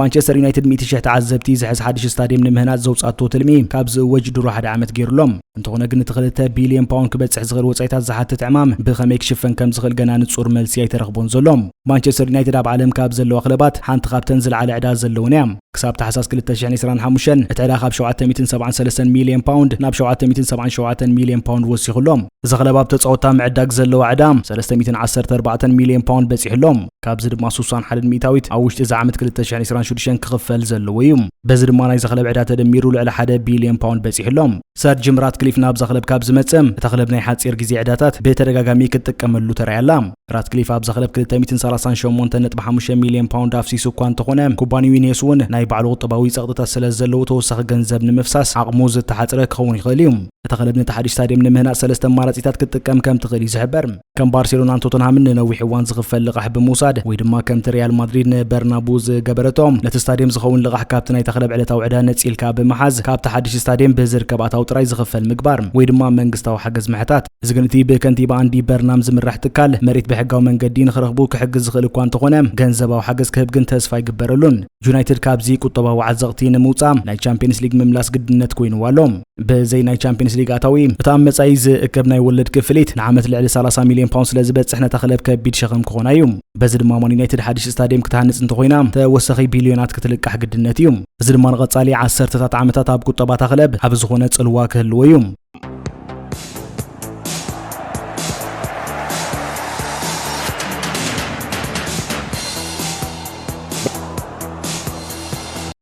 ማንቸስተር ዩናይትድ ሚእቲ ሽሕ ተዓዘብቲ ዝሕዝ ሓድሽ ስታድየም ንምህናፅ ዘውፃቶ ትልሚ ካብ ዝእወጅ ድሮ ሓደ ዓመት ገይሩ ኣሎ። እንተኾነ ግን እቲ ክልተ ቢልዮን ፓውንድ ክበፅሕ ዝኽእል ወፃኢታት ዝሓትት ዕማም ብኸመይ ክሽፈን ከም ዝኽእል ገና ንፁር መልሲ ኣይተረኽቦን ዘሎ። ማንቸስተር ዩናይትድ ኣብ ዓለም ካብ ዘለዋ ክለባት ሓንቲ ካብተን ዝለዓለ ዕዳ ዘለወን እያ። ክሳብ ታሕሳስ 2025 እቲ ዕዳ ካብ 773 ሚልዮን ፓውንድ ናብ 777 ሚልዮን ፓውንድ ወሲኹ ኣሎ። እዚ ክለብ ኣብ ተፃወትታ ምዕዳግ ዘለዋ ዕዳ 314 ሚልዮን ፓውንድ በፂሑ ኣሎ። ካብዚ ድማ ስሳን ሓደን ሚእታዊት ኣብ ውሽጢ እዚ ዓመት ክልተ ሽሕን ዕስራን ሽዱሽተን ክኽፈል ዘለዎ እዩ። በዚ ድማ ናይዛ ክለብ ዕዳ ተደሚሩ ልዕሊ ሓደ ቢልዮን ፓውንድ በጺሑ ኣሎ። ሰር ጂም ራትክሊፍ ናብዛ ክለብ ካብ ዝመጸ፣ እታ ክለብ ናይ ሓጺር ግዜ ዕዳታት ብተደጋጋሚ ክትጥቀመሉ ተራእያ ኣላ። ራትክሊፍ ኣብዛ ክለብ ክልተ ሚእትን ሰላሳን ሸሞንተን ነጥቢ ሓሙሽተ ሚልዮን ፓውንድ ኣፍሲሱ እኳ እንተኾነ፣ ኩባንያኡ ዩኔስ እውን ናይ ባዕሉ ቁጠባዊ ጸቕጥታት ስለ ዘለዎ ተወሳኺ ገንዘብ ንምፍሳስ ዓቕሙ ዝተሓጽረ ክኸውን ይኽእል እዩ። እታ ክለብ ነቲ ሓድሽ ስታድየም ንምህናጽ ሰለስተ ኣማራጺታት ክትጥቀም ከም ትኽእል እዩ ዝሕበር። ከም ባርሴሎናን ቶተንሃምን ንነዊሕ እዋን ዝኽፈል ልቓሕ ብምውሳድ ወይ ድማ ከምቲ ሪያል ማድሪድ ንበርናቡ ዝገበረቶ ነቲ ስታድየም ዝኸውን ልቓሕ ካብቲ ናይታ ክለብ ዕለታዊ ዕዳ ነፂልካ ብምሓዝ ካብቲ ሓድሽ ስታድየም ብዝርከብ ኣታዊ ጥራይ ዝኽፈል ምግባር ወይ ድማ መንግስታዊ ሓገዝ ምሕታት እዚ ግን እቲ ብከንቲባ ኣንዲ በርናም ዝምራሕ ትካል መሬት ብሕጋዊ መንገዲ ንክረኽቡ ክሕግዝ ዝኽእል እኳ እንተኾነ ገንዘባዊ ሓገዝ ክህብ ግን ተስፋ ኣይግበረሉን ዩናይትድ ካብዚ ቁጠባዊ ዓዘቕቲ ንምውፃእ ናይ ቻምፒየንስ ሊግ ምምላስ ግድነት ኮይኑዋ ኣሎ ብዘይ ናይ ቻምፒንስ ሊግ ኣታዊ እቲ ኣብ መጻኢ ዝእከብ ናይ ወለድ ክፍሊት ንዓመት ልዕሊ 30 ሚልዮን ፓውንድ ስለ ዝበጽሕ ነታ ክለብ ከቢድ ሸኸም ክኾና እዩ በዚ ድማ ማን ዩናይትድ ሓድሽ ስታድየም ክትሃንጽ እንተኾይና ተወሳኺ ቢልዮናት ክትልቃሕ ግድነት እዩ እዚ ድማ ንቐጻሊ ዓሰርተታት ዓመታት ኣብ ቁጠባታ ክለብ ኣብ ዝኾነ ጽልዋ ክህልዎ እዩ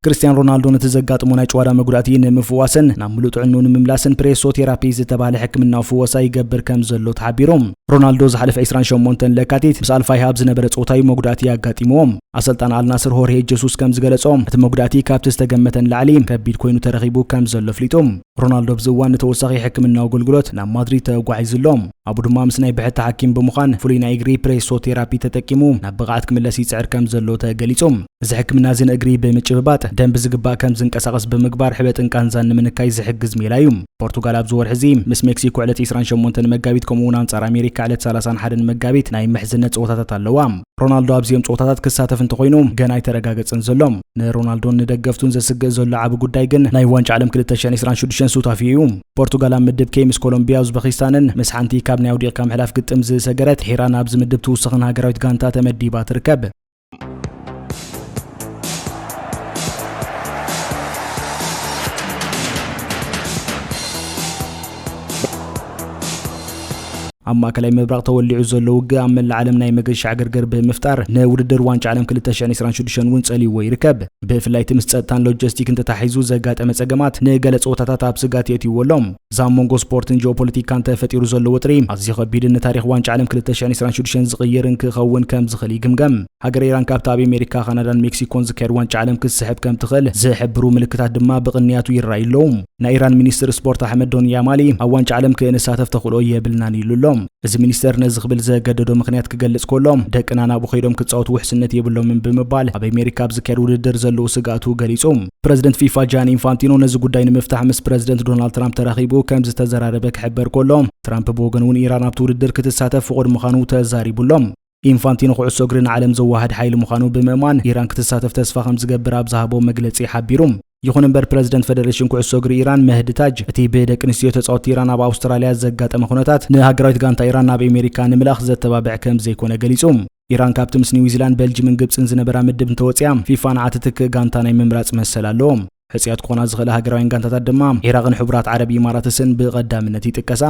ክርስትያን ሮናልዶ ነቲ ዘጋጥሞ ናይ ጭዋዳ መጉዳእቲ ንምፍዋስን ናብ ምሉእ ጥዕንኡ ንምምላስን ፕሬሶ ቴራፒ ዝተባህለ ሕክምናዊ ፍወሳ ይገብር ከም ዘሎ ተሓቢሩ ሮናልዶ ዝሓለፈ 28 ለካቲት ምስ ኣልፋይሃ ኣብ ዝነበረ ጸወታዩ መጉዳእቲ ኣጋጢምዎ ኣሰልጣን ኣልናስር ሆርሄ ጀሱስ ከም ዝገለጾ እቲ መጉዳእቲ ካብቲ ዝተገመተ ንላዕሊ ከቢድ ኮይኑ ተረኺቡ ከም ዘሎ ኣፍሊጡ ሮናልዶ ኣብዚ እዋን ንተወሳኺ ሕክምናዊ ኣገልግሎት ናብ ማድሪድ ተጓዒዙ ኣሎ ኣቡ ድማ ምስ ናይ ብሕቲ ሓኪም ብምዃን ፍሉይ ናይ እግሪ ፕሬሶ ቴራፒ ተጠቂሙ ናብ ብቕዓት ክምለስ ይጽዕር ከም ዘሎ ተገሊጹ። እዚ ሕክምና እዚ ንእግሪ ብምጭብባጥ ደም ብዝግባእ ከም ዝንቀሳቐስ ብምግባር ሕበጥን ቃንዛን ንምንካይ ዝሕግዝ ሜላ እዩ። ፖርቱጋል ኣብዚ ወርሒ እዚ ምስ ሜክሲኮ ዕለት ዕስራን ሸሞንተን መጋቢት ከምኡ'ውን ኣንጻር ኣሜሪካ ዕለት ሰላሳን ሓደን መጋቢት ናይ ምሕዝነት ጸወታታት ኣለዋ። ሮናልዶ ኣብዚኦም ጸወታታት ክሳተፍ እንተኾይኑ ገና ኣይተረጋገጸን ዘሎ። ንሮናልዶን ንደገፍቱን ዘስግእ ዘሎ ዓቢ ጉዳይ ግን ናይ ዋንጫ ዓለም ክልተ ሽሕን ዕስራን ሽዱሽተን ሱታፌ እዩ። ፖርቱጋል ኣብ ምድብ ኬይ ምስ ኮሎምብያ፣ ኡዝበኪስታንን ምስ ሓንቲ ካብ ናይ ኣውዲቕካ ምሕላፍ ግጥም ዝሰገረት ድሒራ ናብዚ ምድብ ትውስኽን ሃገራዊት ጋንታ ተመዲባ ትርከብ። ኣብ ማእከላይ ምብራቕ ተወሊዑ ዘሎ ውግእ ኣብ መላእ ዓለም ናይ መገሻ ዕግርግር ብምፍጣር ንውድድር ዋንጫ ዓለም 2026 እውን ጸልይዎ ይርከብ። ብፍላይ እቲ ምስ ጸጥታን ሎጀስቲክን ተታሒዙ ዘጋጠመ ጸገማት ንገለ ጸወታታት ኣብ ስጋት የእትይዎ ኣሎ። እዚ ኣብ መንጎ ስፖርትን ጂኦፖለቲካን ተፈጢሩ ዘሎ ወጥሪ ኣዝዩ ከቢድን ንታሪኽ ዋንጫ ዓለም 2026 ዝቕይርን ክኸውን ከም ዝኽእል ይግምገም። ሃገር ኢራን ካብቲ ኣብ ኣሜሪካ፣ ካናዳን ሜክሲኮን ዝካየድ ዋንጫ ዓለም ክትስሕብ ከም ትኽእል ዝሕብሩ ምልክታት ድማ ብቕንያቱ ይረኣዩ ኣለዉ። ናይ ኢራን ሚኒስትር ስፖርት ኣሕመድ ዶንያማሊ ኣብ ዋንጫ ዓለም ክእንሳተፍ ተኽእሎ የብልናን ኢሉ ኣሎ። እዚ ሚኒስተር ነዚ ክብል ዘገደዶ ምኽንያት ክገልጽ ከሎ ደቅና ናብኡ ከይዶም ክጻወቱ ውሕስነት የብሎምን ብምባል ኣብ ኣሜሪካ ኣብ ዝካየድ ውድድር ዘለዎ ስግኣቱ ገሊጹ። ፕረዚደንት ፊፋ ጃኒ ኢንፋንቲኖ ነዚ ጉዳይ ንምፍታሕ ምስ ፕረዚደንት ዶናልድ ትራምፕ ተራኺቡ ከም ዝተዘራረበ ክሕበር ከሎ ትራምፕ ብወገኑ እውን ኢራን ኣብቲ ውድድር ክትሳተፍ ፍቑድ ምዃኑ ተዛሪቡ ኣሎ። ኢንፋንቲኖ ኩዕሶ እግሪ ንዓለም ዘወሃድ ሓይሊ ምዃኑ ብምእማን ኢራን ክትሳተፍ ተስፋ ከም ዝገብር ኣብ ዝሃቦ መግለጺ ሓቢሩ። ይኹን እምበር ፕረዚደንት ፈደሬሽን ኩዕሶ እግሪ ኢራን መህዲ ታጅ እቲ ብደቂ ኣንስትዮ ተጻወትቲ ኢራን ኣብ ኣውስትራልያ ዘጋጠመ ኩነታት ንሃገራዊት ጋንታ ኢራን ናብ ኣሜሪካ ንምልኣኽ ዘተባብዕ ከም ዘይኮነ ገሊጹ። ኢራን ካብቲ ምስ ኒውዚላንድ፣ በልጅምን ግብጽን ዝነበራ ምድብ እንተወጺኣ ፊፋ ንዓ ትትክእ ጋንታ ናይ ምምራጽ መሰል ኣለዎ። ሕጹያት ክኾና ዝኽእላ ሃገራውያን ጋንታታት ድማ ዒራቕን ሕቡራት ዓረብ ኢማራትስን ብቐዳምነት ይጥቀሳ።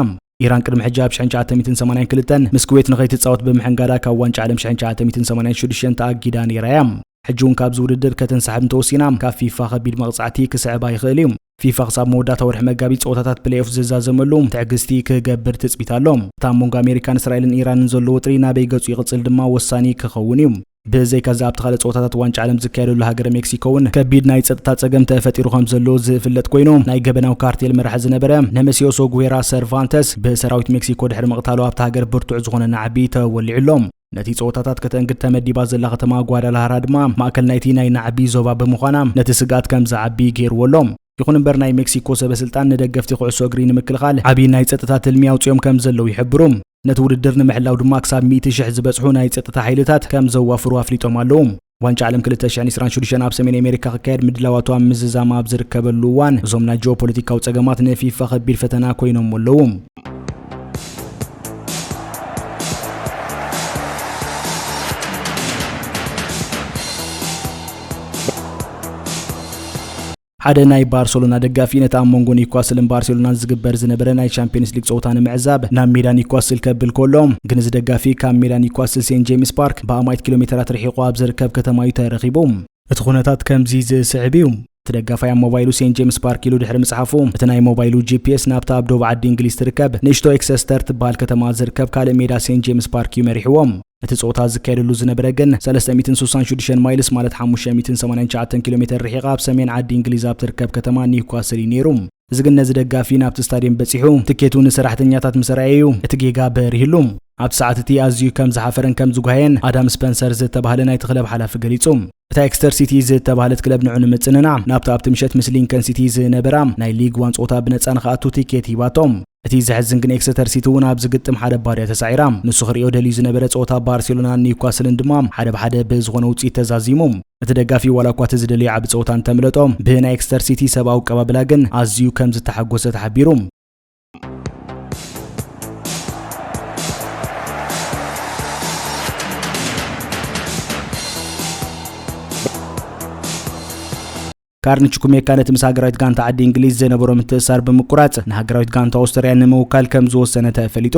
ኢራን ቅድሚ ሕጂ ኣብ ሽሕን ትሽዓተ ሚእትን ሰማንያን ክልተን ምስ ኩዌት ንኸይትጻወት ብምሕንጋዳ ካብ ዋንጫ ዓለም ሽሕን ትሽዓተ ሚእትን ሰማንያን ሽዱሽተን ተኣጊዳ ነይራ እያ። ሕጂ እውን ካብዚ ውድድር ከተንሳሕብ እንተወሲና ካብ ፊፋ ከቢድ መቕጻዕቲ ክስዕባ ይኽእል እዩ። ፊፋ ክሳብ መወዳእታ ወርሒ መጋቢት ጸወታታት ፕሌይኦፍ ዝዛዘመሉ ትዕግስቲ ክገብር ትጽቢት ኣሎ። እቲ ኣብ መንጎ ኣሜሪካን እስራኤልን ኢራንን ዘሎ ወጥሪ ናበይ ገጹ ይቕጽል ድማ ወሳኒ ክኸውን እዩ። ብዘይካዚ ኣብቲ ካልእ ፀወታታት ዋንጫ ዓለም ዝካየደሉ ሃገረ ሜክሲኮ እውን ከቢድ ናይ ፀጥታ ፀገም ተፈጢሩ ከም ዘሎ ዝፍለጥ ኮይኑ ናይ ገበናዊ ካርቴል መራሒ ዝነበረ ነመሲዮሶ ጉዌራ ሰርቫንተስ ብሰራዊት ሜክሲኮ ድሕሪ ምቕታሉ ኣብቲ ሃገር ብርቱዕ ዝኾነ ናዕቢ ተወሊዑ ኣሎ። ነቲ ጸወታታት ከተእንግድ ተመዲባ ዘላ ከተማ ጓዳላሃራ ድማ ማእከል ናይቲ ናይ ናዕቢ ዞባ ብምዃና ነቲ ስግኣት ከም ዝዓቢ ገይርዎ ኣሎ ይኹን እምበር ናይ ሜክሲኮ ሰበስልጣን ንደገፍቲ ኩዕሶ እግሪ ንምክልኻል ዓብዪ ናይ ጸጥታ ትልሚ ኣውፂኦም ከም ዘለዉ ይሕብሩ ነቲ ውድድር ንምሕላው ድማ ክሳብ ሚእቲ ሽሕ ዝበጽሑ ናይ ጸጥታ ሓይልታት ከም ዘዋፍሩ ኣፍሊጦም ኣለዉ። ዋንጫ ዓለም 2026 ኣብ ሰሜን ኣሜሪካ ክካየድ ምድላዋቱ ኣብ ምዝዛም ኣብ ዝርከበሉ እዋን እዞም ናይ ጂኦ ፖለቲካዊ ጸገማት ንፊፋ ከቢድ ፈተና ኮይኖሞ ኣለዉ። ሓደ ናይ ባርሰሎና ደጋፊ ነቲ ኣብ መንጎ ኒውካስልን ባርሴሎናን ዝግበር ዝነበረ ናይ ቻምፒየንስ ሊግ ጸወታ ንምዕዛብ ናብ ሜዳ ኒውካስል ከብል ከሎ ግን እዚ ደጋፊ ካብ ሜዳ ኒውካስል ሴንት ጄምስ ፓርክ ብኣማኢት ኪሎ ሜተራት ርሒቑ ኣብ ዝርከብ ከተማ እዩ ተረኺቡ። እቲ ኩነታት ከምዚ ዝስዕብ እዩ። እቲ ደጋፋይ ኣብ ሞባይሉ ሴንት ጄምስ ፓርክ ኢሉ ድሕሪ ምጽሓፉ እቲ ናይ ሞባይሉ ጂፒኤስ ናብታ ኣብ ዶብ ዓዲ እንግሊዝ ትርከብ ንእሽቶ ኤክሰስተር ትበሃል ከተማ ዝርከብ ካልእ ሜዳ ሴንት ጄምስ ፓርክ እዩ መሪሕዎ። እቲ ጸወታ ዝካየደሉ ዝነበረ ግን ሰለስተ ሚእትን ስሳን ሽዱሽተን ማይልስ ማለት ሓሙሽተ ሚእትን ሰማንያን ትሽዓተን ኪሎ ሜተር ርሒቓ ኣብ ሰሜን ዓዲ እንግሊዝ ኣብ ትርከብ ከተማ ኒውካስል እዩ ነይሩ። እዚ ግን ነዚ ደጋፊ ናብቲ ስታድየም በጺሑ ትኬቱ ንሰራሕተኛታት ምስ ኣርኣየ እዩ እቲ ጌጋ በሪህሉ። ኣብቲ ሰዓት እቲ ኣዝዩ ከም ዝሓፈረን ከም ዝጓሃየን ኣዳም ስፐንሰር ዝተባህለ ናይቲ ክለብ ሓላፊ ገሊጹ። እታ ኤክስተር ሲቲ ዝተባህለት ክለብ ንዑ ንምጽንናዕ ናብታ ኣብቲ ምሸት ምስ ሊንከን ሲቲ ዝነበራ ናይ ሊግ ዋን ጸወታ ብነጻ ንኽኣቱ ቲኬት ሂባቶም። እቲ ዘሕዝን ግን ኤክሰተር ሲቲ እውን ኣብዚ ግጥም ሓደ ባድያ ተሳዒራ ንሱ ክሪኦ ደልዩ ዝነበረ ጸወታ ባርሴሎናን ኒውካስልን ድማ ሓደ ብሓደ ብዝኾነ ውፅኢት ተዛዚሙ እቲ ደጋፊ ዋላ እኳ እቲ ዝደለየ ዓቢ ጸወታ እንተምለጦ ብናይ ኤክስተር ሲቲ ሰብኣዊ ኣቀባብላ ግን ኣዝዩ ከም ዝተሓጎሰ ተሓቢሩ ካርንች ኩሜካ ነቲ ምስ ሃገራዊት ጋንታ ዓዲ እንግሊዝ ዝነበሮ ምትእሳር ብምቁራጽ ንሃገራዊት ጋንታ ኦስትርያ ንምውካል ከም ዝወሰነ ተፈሊጡ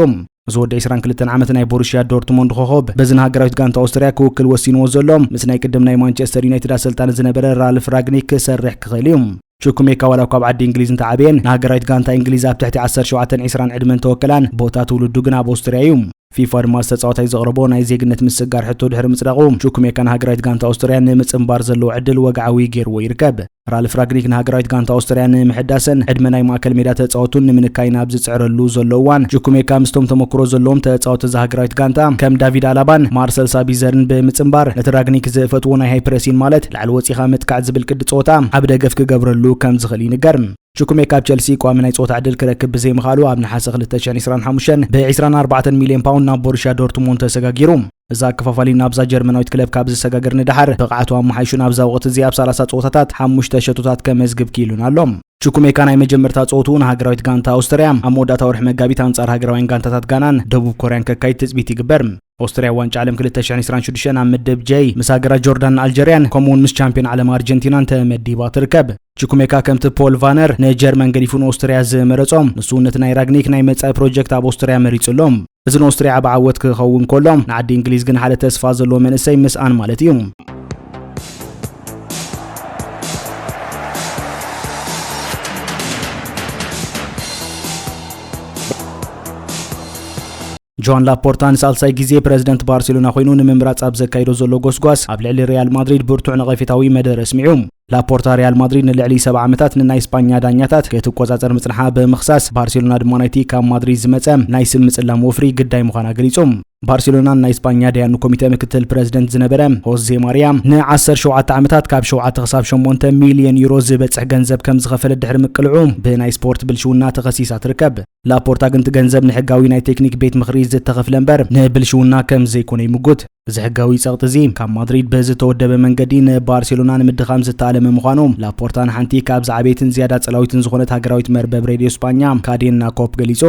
እዚ ወዲ 22 ዓመት ናይ ቦሩሽያ ዶርትሞንድ ኮኸብ በዚ ንሃገራዊት ጋንታ ኦስትርያ ክውክል ወሲንዎ ዘሎ ምስ ናይ ቅድም ናይ ማንቸስተር ዩናይትድ ኣሰልጣኒ ዝነበረ ራልፍ ራግኒክ ክሰርሕ ክኽእል እዩ ቹኩሜካ ዋላ እኳ ኣብ ዓዲ እንግሊዝ እንተዓበየን፣ ንሃገራዊት ጋንታ እንግሊዝ ኣብ ትሕቲ ዓሰርተ ሸውዓተን ዒስራን ዕድመ እንተወከላን፣ ቦታ ትውልዱ ግና ኣብ ኦስትርያ እዩ። ፊፋ ድማ ዝተጻዋታይ ዘቕረቦ ናይ ዜግነት ምስግጋር ሕቶ ድሕሪ ምጽዳቑ፣ ቹኩሜካ ንሃገራዊት ጋንታ ኦስትርያ ንምጽንባር ዘለዎ ዕድል ወግዓዊ ገይርዎ ይርከብ። ራልፍ ራግኒክ ንሃገራዊት ጋንታ ኦስትርያ ንምሕዳስን ዕድመ ናይ ማእከል ሜዳ ተጻወቱን ንምንካይን ኣብ ዝጽዕረሉ ዘሎ እዋን፣ ቹኩሜካ ምስቶም ተመኩሮ ዘለዎም ተጻወቲ እዛ ሃገራዊት ጋንታ ከም ዳቪድ ኣላባን ማርሰል ሳቢዘርን ብምጽንባር ነቲ ራግኒክ ዝፈትዎ ናይ ሃይፕረሲን ማለት ላዕሊ ወጺኻ ምጥቃዕ ዝብል ቅዲ ጸወታ ዓቢ ደገፍ ክገብረሉ ከም ዝኽእል ይንገር። ቹኩሜ ካብ ቸልሲ ቋሚ ናይ ጸወታ ዕድል ክረክብ ብዘይምኽኣሉ ኣብ ነሓሰ ክልተ ሽሕን ዒስራን ሓሙሽተን ብ ዒስራን ኣርባዕተን ሚልዮን ፓውንድ ናብ ቦሩሽያ ዶርትሙንድ ተሰጋጊሩ። እዚ ኣከፋፋሊ ናብዛ ጀርመናዊት ክለብ ካብ ዝሰጋገር ንደሓር ብቕዓቱ ኣመሓይሹ ናብዛ ወቕቲ እዚ ኣብ ሰላሳ ጸወታታት ሓሙሽተ ሸቶታት ከመዝግብ ክኢሉን ኣሎ። ቹኩሜካ ናይ መጀመርታ ጸወትኡ ንሃገራዊት ጋንታ ኣውስትርያ ኣብ መወዳእታ ወርሒ መጋቢት ኣንጻር ሃገራውያን ጋንታታት ጋናን ደቡብ ኮርያን ከካይድ ትጽቢት ይግበር። ኦስትርያ ዋንጫ ዓለም ክልተ ሽሕን ዕስራን ሽዱሽተን ኣብ ምድብ ጀይ ምስ ሃገራት ጆርዳንን ኣልጀርያን ከምኡውን ምስ ቻምፒዮን ዓለም ኣርጀንቲናን ተመዲባ ትርከብ። ቺኩሜካ ከምቲ ፖል ቫነር ንጀርመን ገዲፉ ንኦስትርያ ዝመረጾም ንሱ ነቲ ናይ ራግኒክ ናይ መጻኢ ፕሮጀክት ኣብ ኦስትርያ መሪጹ ኣሎ። እዚ ንኦስትርያ ዓብ ዓወት ክኸውን ከሎ ንዓዲ እንግሊዝ ግን ሓደ ተስፋ ዘለዎ መንእሰይ ምስኣን ማለት እዩ። ጆዋን ላፖርታ ንሳልሳይ ግዜ ፕረዚደንት ባርሴሎና ኮይኑ ንምምራጽ ኣብ ዘካይዶ ዘሎ ጎስጓስ ኣብ ልዕሊ ሪያል ማድሪድ ብርቱዕ ነቐፌታዊ መደረ ኣስሚዑ። ላፖርታ ሪያል ማድሪድ ንልዕሊ ሰብዓ ዓመታት ንናይ ስጳኛ ዳኛታት ክትቆጻጸር ምጽንሓ ብምኽሳስ ባርሴሎና ድማ ናይቲ ካብ ማድሪድ ዝመጸ ናይ ስም ምጽላም ወፍሪ ግዳይ ምዃና ገሊጹ። ባርሴሎናን ናይ ስጳኛ ዳያኑ ኮሚተ ምክትል ፕረዚደንት ዝነበረ ሆዜ ማርያ ን17 ዓመታት ካብ 7 ክሳብ 8 ሚልዮን ዩሮ ዝበጽሕ ገንዘብ ከም ዝኸፈለ ድሕሪ ምቅልዑ ብናይ ስፖርት ብልሽውና ተኸሲሳ ትርከብ። ላፖርታ ግን እቲ ገንዘብ ንሕጋዊ ናይ ቴክኒክ ቤት ምኽሪ ዝተኸፍለ እምበር ንብልሽውና ከም ዘይኮነ ይምጉት። እዚ ሕጋዊ ጸቕጢ እዚ ካብ ማድሪድ ብዝተወደበ መንገዲ ንባርሴሎና ንምድኻም ዝተኣለመ ምዃኑ ላፖርታ ንሓንቲ ካብ ዝዓበየትን ዝያዳ ጸላዊትን ዝኾነት ሃገራዊት መርበብ ሬድዮ ስጳኛ ካዴና ኮፕ ገሊጹ።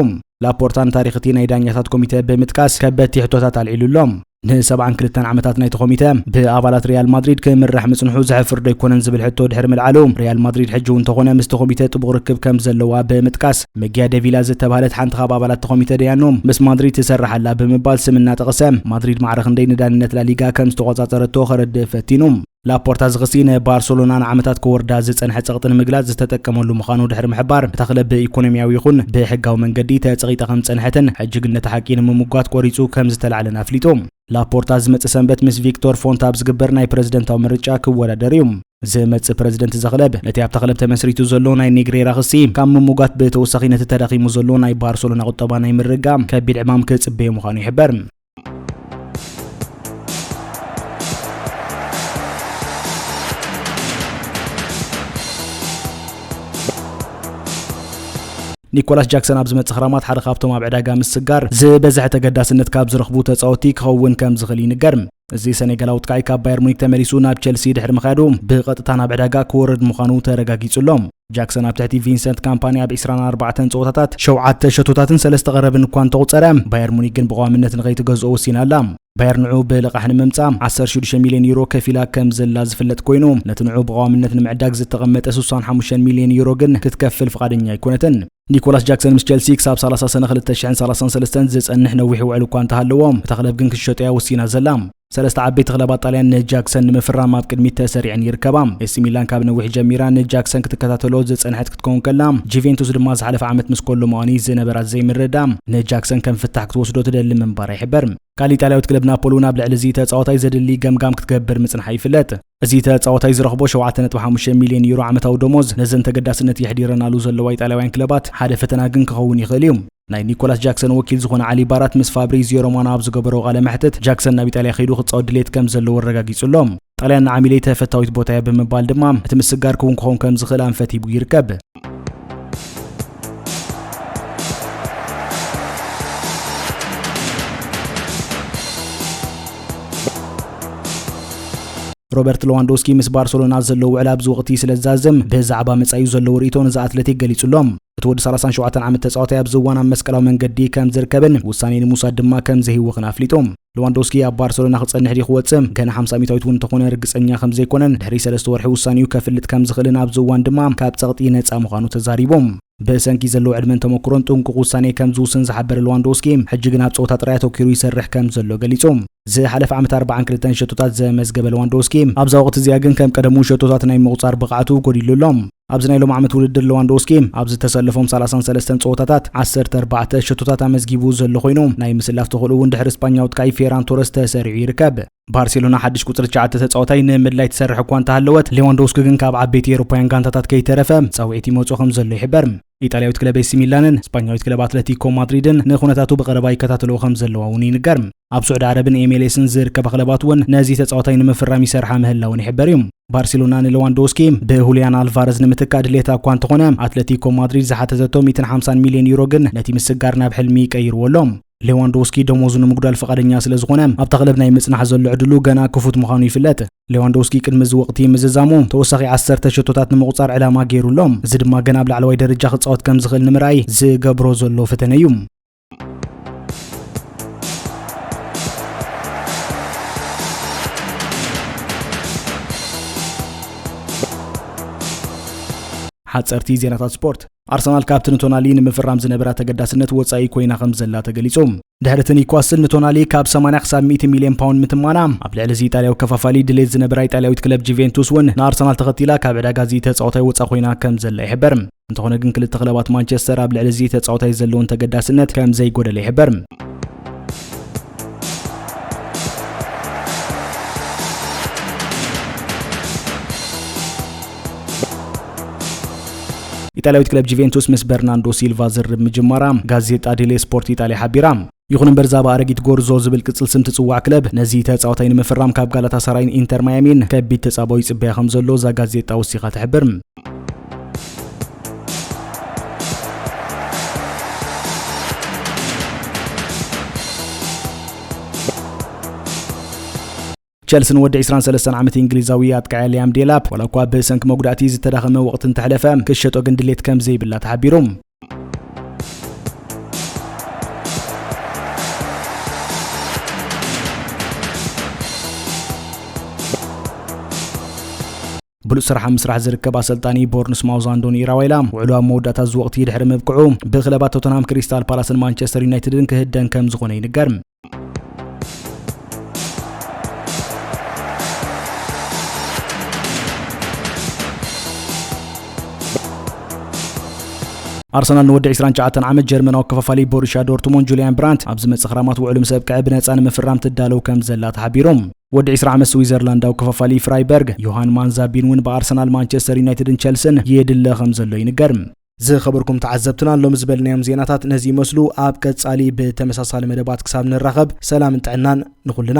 ላፖርታ ንታሪኽ እቲ ናይ ዳኛታት ኮሚተ ብምጥቃስ ከበድቲ ሕቶታት ኣልዒሉ ኣሎ። ንሰብዓን ክልተን ዓመታት ናይቲ ኮሚተ ብኣባላት ሪያል ማድሪድ ክምራሕ ምጽንሑ ዘሕፍር ዶ ኣይኮነን ዝብል ሕቶ ድሕሪ ምልዓሉ ሪያል ማድሪድ ሕጂ እውን ተኾነ ምስቲ ኮሚተ ጥቡቕ ርክብ ከም ዘለዋ ብምጥቃስ መጊያ ደቪላ ዝተባህለት ሓንቲ ካብ ኣባላት ኮሚተ ደያኑ ምስ ማድሪድ ትሰርሕ ኣላ ብምባል ስም እናጠቐሰ ማድሪድ ማዕረ ክንደይ ንዳንነት ላሊጋ ከም ዝተቖጻጸረቶ ከረድእ ፈቲኑ። ላፖርታ እዚ ክሲ ንባርሰሎና ንዓመታት ክወርዳ ዝጸንሐ ጸቕጢ ንምግላጽ ዝተጠቀመሉ ምዃኑ ድሕሪ ምሕባር፣ እታ ክለብ ብኢኮኖሚያዊ ይኹን ብሕጋዊ መንገዲ ተጸቒጣ ከም ዝጸንሐትን ሕጂ ግን ነቲ ሓቂ ንምምጓት ቆሪጹ ከም ዝተላዕለን ኣፍሊጡ። ላፖርታ ዝመጽእ ሰንበት ምስ ቪክቶር ፎንት ኣብ ዝግበር ናይ ፕረዚደንታዊ ምርጫ ክወዳደር እዩ። ዝመጽእ ፕረዚደንት እዛ ክለብ ነቲ ኣብታ ክለብ ተመስሪቱ ዘሎ ናይ ኔግሬራ ክሲ ካብ ምሙጋት ብተወሳኺ ነቲ ተዳኺሙ ዘሎ ናይ ባርሰሎና ቁጠባ ናይ ምርጋም ከቢድ ዕማም ክጽበዮ ምዃኑ ይሕበር። ኒኮላስ ጃክሰን ኣብ ዝመጽእ ክራማት ሓደ ካብቶም ኣብ ዕዳጋ ምስጋር ዝበዝሐ ተገዳስነት ካብ ዝረኽቡ ተጻወቲ ክኸውን ከም ዝኽእል ይንገር እዚ ሰኔጋላዊ ጥቃዒ ካብ ባየር ሙኒክ ተመሊሱ ናብ ቸልሲ ድሕሪ ምካዱ ብቐጥታ ናብ ዕዳጋ ክወርድ ምዃኑ ተረጋጊጹ ኣሎ ጃክሰን ኣብ ትሕቲ ቪንሰንት ካምፓኒ ኣብ ዕስራን ኣርባዕተን ጸወታታት ሸውዓተ ሸቶታትን ሰለስተ ቀረብን እኳ እንተቑጸረ፣ ባየር ሙኒክ ግን ብቐዋምነት ንኸይትገዝኦ ወሲና ኣላ። ባየር ንዕኡ ብልቓሕ ንምምጻእ ዓሰርተ ሽዱሽተ ሚልዮን ዩሮ ከፊላ ከም ዘላ ዝፍለጥ ኰይኑ፣ ነቲ ንዕኡ ብቐዋምነት ንምዕዳግ ዝተቐመጠ ስሳን ሓሙሽተን ሚልዮን ዩሮ ግን ክትከፍል ፍቓደኛ ኣይኰነትን። ኒኮላስ ጃክሰን ምስ ቸልሲ ክሳብ ሰላሳ ሰነ ክልተ ሽሕን ሰላሳን ሰለስተን ዝጸንሕ ነዊሕ ውዕል እኳ እንተሃለዎ፣ እታ ክለብ ግን ክትሸጦ'ያ ወሲና ዘላ። ሰለስተ ዓበይቲ ክለባት ጣልያን ንጃክሰን ንምፍራም ኣብ ቅድሚት ተሰሪዐን ይርከባ። ኤሲ ሚላን ካብ ነዊሕ ጀሚራ ንጃክሰን ክትከታተሎ ዝጸንሐት ክትከውን ከላ፣ ጁቬንቱስ ድማ ዝሓለፈ ዓመት ምስ ኮሎ ሙኣኒ ዝነበራ ዘይምርድዳእ ንጃክሰን ከም ፍታሕ ክትወስዶ ትደሊ ምንባራ ይሕበር። ካልእ ኢጣልያዊት ክለብ ናፖሊ እውን ኣብ ልዕሊ እዚ ተጻዋታይ ዘድሊ ገምጋም ክትገብር ምጽንሓ ይፍለጥ። እዚ ተጻዋታይ ዝረኽቦ ሸውዓተ ነጥቢ ሓሙሽተ ሚልዮን ዩሮ ዓመታዊ ደሞዝ ነዘን ተገዳስነት የሕዲረናሉ ዘለዋ ኢጣልያውያን ክለባት ሓደ ፈተና ግን ክኸውን ይኽእል እዩ። ናይ ኒኮላስ ጃክሰን ወኪል ዝኾነ ዓሊ ባራት ምስ ፋብሪዚዮ ሮማኖ ኣብ ዝገበሮ ቃለ መሕትት ጃክሰን ናብ ኢጣልያ ከይዱ ክጻወት ድሌት ከም ዘለዎ ኣረጋጊጹ ኣሎ። ጣልያን ንዓሚለይ ተፈታዊት ቦታ እያ ብምባል ድማ እቲ ምስግጋር ክውን ክኸውን ከም ዝኽእል ኣንፈት ሂቡ ይርከብ። ሮበርት ሎዋንዶስኪ ምስ ባርሰሎና ዘለዎ ውዕል ኣብዚ ወቕቲ ስለ ዝዛዘም ብዛዕባ መጻዩ ዘለዎ ርእቶ ነዚ ኣትሌቲክ ገሊጹሎም እቲ ወዲ 37 ዓመት ተጻዋታይ ኣብዚ እዋን ኣብ መስቀላዊ መንገዲ ከም ዝርከብን ውሳኔ ንምውሳድ ድማ ከም ዘይህወኽን ኣፍሊጡ ለዋንዶስኪ ኣብ ባርሰሎና ክጸንሕ ድዩ ክወጽእ ገና ሓምሳ ሚታዊት እውን እንተኾነ ርግጸኛ ከም ዘይኮነን ድሕሪ ሰለስተ ወርሒ ውሳኔኡ ከፍልጥ ከም ዝኽእልን ኣብዚ እዋን ድማ ካብ ጸቕጢ ነጻ ምዃኑ ተዛሪቡ። ብሰንኪ ዘለዎ ዕድመን ተመክሮን ጥንቁቕ ውሳኔ ከም ዝውስን ዝሓበረ ለዋንዶስኪ ሕጂ ግን ኣብ ጸወታ ጥራይ ኣተኪሩ ይሰርሕ ከም ዘሎ ገሊጹ። ዝሓለፈ ዓመት 42 ሸቶታት ዘመዝገበ ለዋንዶስኪ ኣብዛ ወቕቲ እዚኣ ግን ከም ቀደሙ ሸቶታት ናይ ምቑጻር ብቕዓቱ ጎዲሉ ኣሎ። ኣብዚ ናይ ሎም ዓመት ውድድር ለዋንዶውስኪ ኣብ ዝተሰለፎም ሰላሳን ሰለስተን ጸወታታት ዓሰርተ ኣርባዕተ ሸቶታት ኣመዝጊቡ ዘሎ ኮይኑ፣ ናይ ምስላፍ ተኽእልኡ እውን ድሕሪ ስጳኛዊ ኣጥቃኢ ፌራን ቶረስ ተሰሪዑ ይርከብ። ባርሴሎና ሓድሽ ቁጽሪ ትሽዓተ ተጻዋታይ ንምድላይ ትሰርሕ እኳ እንተሃለወት፣ ሌዋንዶውስኪ ግን ካብ ዓበይቲ ኤውሮፓውያን ጋንታታት ከይተረፈ ጻውዒት ይመጾ ከምዘሎ ይሕበር። ኢጣልያዊት ክለብ ኤሲ ሚላንን ስጳኛዊት ክለብ ኣትለቲኮ ማድሪድን ንኹነታቱ ብቐረባ ይከታተልዎ ከም ዘለዋ እውን ይንገር። ኣብ ስዑዲ ዓረብን ኤምኤልኤስን ዝርከባ ክለባት እውን ነዚ ተጻዋታይ ንምፍራም ይሰርሓ ምህላወን ይሕበር እዩ። ባርሴሎና ንሌዋንዶስኪ ብሁልያን ኣልቫረዝ ንምትካእ ድሌታ እኳ እንተኾነ ኣትለቲኮ ማድሪድ ዝሓተተቶ 150 ሚልዮን ዩሮ ግን ነቲ ምስጋር ናብ ሕልሚ ቀይርዎ ኣሎ። ሌዋንዶውስኪ ደሞዙ ንምጉዳል ፍቓደኛ ስለ ዝኾነ ኣብታ ክለብ ናይ ምጽናሕ ዘሎ ዕድሉ ገና ክፉት ምዃኑ ይፍለጥ። ሌዋንዶውስኪ ቅድሚ እዚ ወቕቲ ምዝዛሙ ተወሳኺ ዓሰርተ ሸቶታት ንምቑጻር ዕላማ ገይሩ ኣሎ፣ እዚ ድማ ገና ኣብ ላዕለዋይ ደረጃ ክጻወት ከም ዝኽእል ንምርኣይ ዝገብሮ ዘሎ ፈተነ እዩ። ሓጸርቲ ዜናታት ስፖርት ኣርሰናል ካብቲ ንቶናሊ ንምፍራም ዝነበራ ተገዳስነት ወጻኢ ኮይና ከም ዘላ ተገሊጹ። ድሕሪ እቲ ኒውካስል ንቶናሊ ካብ 80 ክሳብ 100 ሚልዮን ፓውንድ ምትማና፣ ኣብ ልዕሊ እዚ ኢጣልያዊ ከፋፋሊ ድሌት ዝነበራ ኢጣልያዊት ክለብ ጁቬንቱስ እውን ንኣርሰናል ተኸቲላ ካብ ዕዳጋ እዚ ተጻዋታይ ወጻ ኮይና ከም ዘላ ይሕበር። እንተኾነ ግን ክልተ ክለባት ማንቸስተር ኣብ ልዕሊ እዚ ተጻዋታይ ዘለውን ተገዳስነት ከም ዘይጎደለ ይሕበር። ኢጣልያዊት ክለብ ጁቬንቱስ ምስ በርናንዶ ሲልቫ ዝርርብ ምጅማራ ጋዜጣ ዴሌ ስፖርት ኢጣልያ ሓቢራ። ይኹን እምበር እዛ ብኣረጊት ጎርዞ ዝብል ቅጽል ስም ትጽዋዕ ክለብ ነዚ ተጻዋታይ ንምፍራም ካብ ጋላታ ሰራይን ኢንተር ማያሚን ከቢድ ተጻባኦ ይጽበያ ከም ዘሎ እዛ ጋዜጣ ወሲኻ ትሕብር። ቸልሲ ንወዲ ዕስራን ሰለስተን ዓመት እንግሊዛዊ ኣጥቃዒ ሊያም ዴላፕ ዋላ እኳ ብሰንኪ መጉዳእቲ ዝተዳኸመ ወቕቲ እንተሕለፈ ክትሸጦ ግን ድሌት ከም ዘይብላ ተሓቢሩ። ብሉፅ ስራሕ ኣብ ምስራሕ ዝርከብ ኣሰልጣኒ ቦርንስ ማውዝ ኣንዶኒ ኢራዋይላ ውዕሉ ኣብ መወዳእታ እዚ ወቕቲ ድሕሪ ምብቅዑ ብክለባት ቶተንሃም ክሪስታል ፓላስን ማንቸስተር ዩናይትድን ክህደን ከም ዝኾነ ይንገር ኣርሰናል ንወዲ 29 ዓመት ጀርመናዊ ከፋፋሊ ቦሩሽያ ዶርትሞንድ ጁልያን ብራንት ኣብ ዝመጽእ ክራማት ውዕሉ ምስ ኣብቅዐ ብነጻ ንምፍራም ትዳለው ከም ዘላ ተሓቢሩ ወዲ ዕስራ ዓመት ስዊዘርላንዳዊ ከፋፋሊ ፍራይበርግ ዮሃን ማንዛቢን እውን ብኣርሰናል፣ ማንቸስተር ዩናይትድን ቸልስን የድለ ከምዘሎ ይንገር። ዝኸበርኩም ተዓዘብትና ሎሚ ዝበልናዮም ዜናታት ነዚ ይመስሉ። ኣብ ቀጻሊ ብተመሳሳሊ መደባት ክሳብ ንራኸብ ሰላምን ጥዕናን ንኹልና።